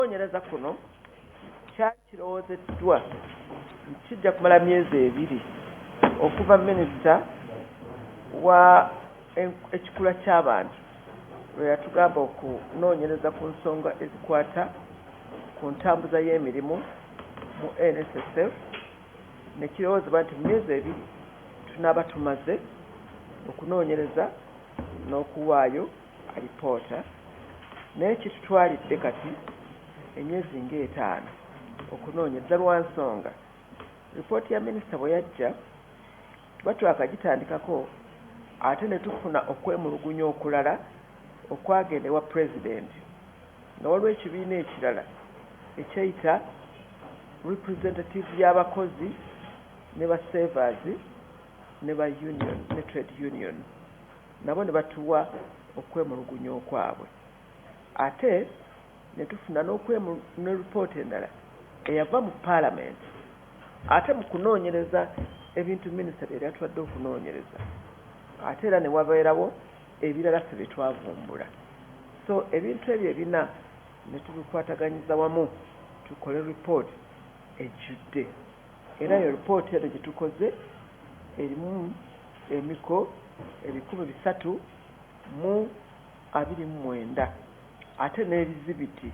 Okunoonyereza kuno kyali kirowoozeddwa nti kijja kumala myezi ebiri okuva minisita wa ekikula ky'abantu lwe yatugamba okunoonyereza ku nsonga ezikwata ku ntambuza y'emirimu mu NSSF ne kirowoozebwa nti mu myezi ebiri tunaaba tumaze okunoonyereza n'okuwaayo alipoota naye kitutwalidde kati emyezi ng'etaano okunoonyereza lwa nsonga lipooti ya minisita bwe yajja tuba twakagitandikako ate ne tufuna okwemulugunya okulala okwagenda ewa pulezidenti nga waliwo ekibiina ekirala ekyeyita representative y'abakozi ne basevaazi ne ba union ne trade union nabo ne batuwa okwemulugunya okwabwe ate ne tufuna n'okwemu ne report endala eyava mu Palamenti ate mu kunoonyereza ebintu Minisita bye yali atuwadde okunoonyereza ate era ne wabeerawo ebirala ffe bye twavumbula so ebintu ebyo ebina ne tubikwataganyiza wamu tukole report ejjudde. Era eyo lipooti eno gye tukoze erimu emiko ebikumi bisatu mu abiri mu mwenda ate n'ebizibiti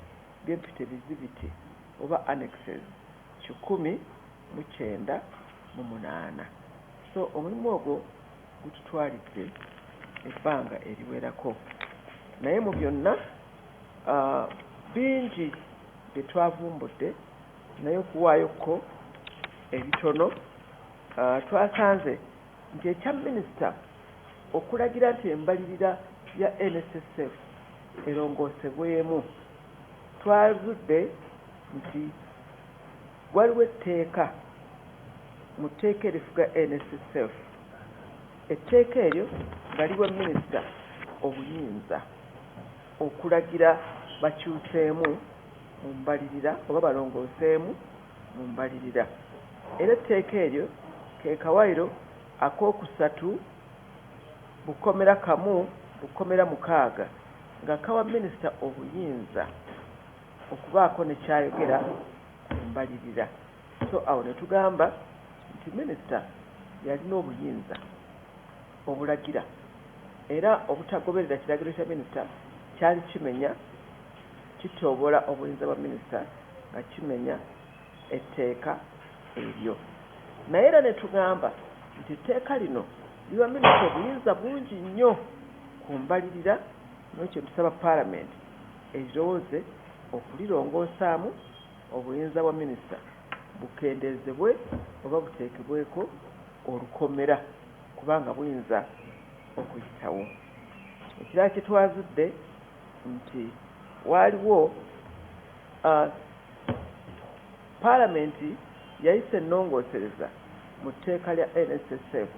by'empita ebizibiti oba annexes kikumi mu kyenda mu munaana. So omulimu ogwo gututwalidde ebbanga eriwerako naye mu byonna bingi bye twavumbudde naye okuwaayo ko ebitono twasanze nti ekya minisita okulagira nti embalirira ya NSSF erongoosebwemu twazudde nti waliwo etteeka mu tteeka erifuga NSSF etteeka eryo nga liwa minisita obuyinza okulagira bakyuseemu mu mbalirira oba balongooseemu mu mbalirira era etteeka eryo ke kawaayiro akookusatu mu kkomera kamu mu kkomera mukaaga nga kawa minisita obuyinza okubaako ne kyayogera ku mbalirira so awo ne tugamba nti minisita y'alina obuyinza obulagira era obutagoberera kiragiro kya minisita kyali kimenya kityoboola obuyinza bwa minisita nga kimenya etteeka eryo naye era ne tugamba nti etteeka lino liwa minisita obuyinza bungi nnyo ku mbalirira ne kye tusaba palamenti erirowooze okulirongosaamu obuyinza bwa minisita bukendeezebwe oba buteekebweko olukomera kubanga buyinza okuyitawo. Ekirala kye twazudde nti waaliwo Palamenti yayisa ennongoosereza mu tteeka lya NSSF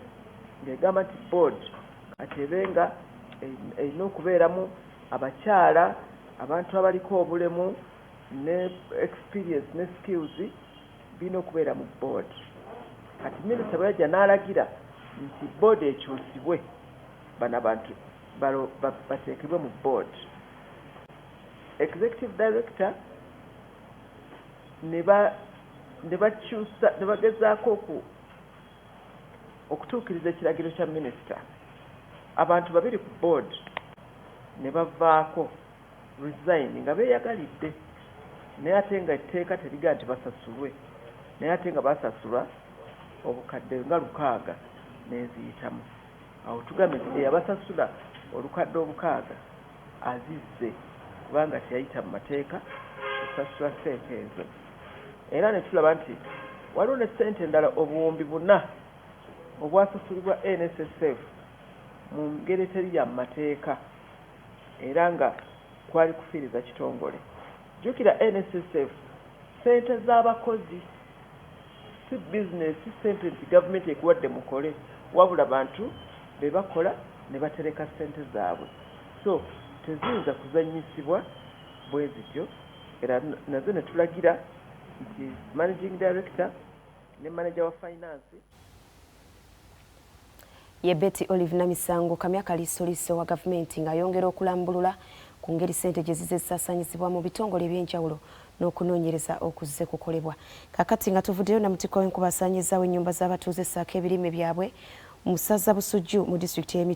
ng'egamba nti bboodi kati ebe nga erina okubeeramu abakyala, abantu abaliko obulemu ne experience ne skills. Birina okubeera mu board. Kati minister bweyajja nalagira nti board ekyusibwe bano abantu batekebwe mu board executive director nebakyusa nebagezaako oku okutuukiriza ekiragiro kya minister abantu babiri ku board nebavaako. resign nga beyagalidde naye ate nga etteeka terigaa nti basasulwe naye ate nga basasulwa obukadde nga lukaaga neziyitamu awo tugambe nti eyabasasula olukadde obukaaga azizze kubanga teyayita mu mateeka osasula sente ezo era netulaba nti waliwo ne sente endala obuwumbi buna obwasasulibwa nssf mu ngeri eteri ya mu mateeka era nga kwali kufiiriza kitongole. Jjukira NSSF ssente za bakozi si bizinensi, si ssente nti gavumenti ekuwadde mukole wabula bantu be bakola ne batereka ssente zaabwe so teziyinza kuzannyisibwa bwe zityo era nazo ne tulagira nti Managing Director ne maneja wa fayinansi Ye Betty Olive Namisango kamya kaliisoliiso wa gavumenti ng'ayongera okulambulula ku ngeri ssente gye zizze zisaasaanyizibwa mu bitongole eby'enjawulo n'okunoonyereza okuzze kukolebwa. Kaakati nga tuvuddeyo namutikwa w'enkuba asaanyizzaawo ennyumba z'abatuuze ssaako ebirime byabwe mu ssaza Busujju mu disitulikiti y'e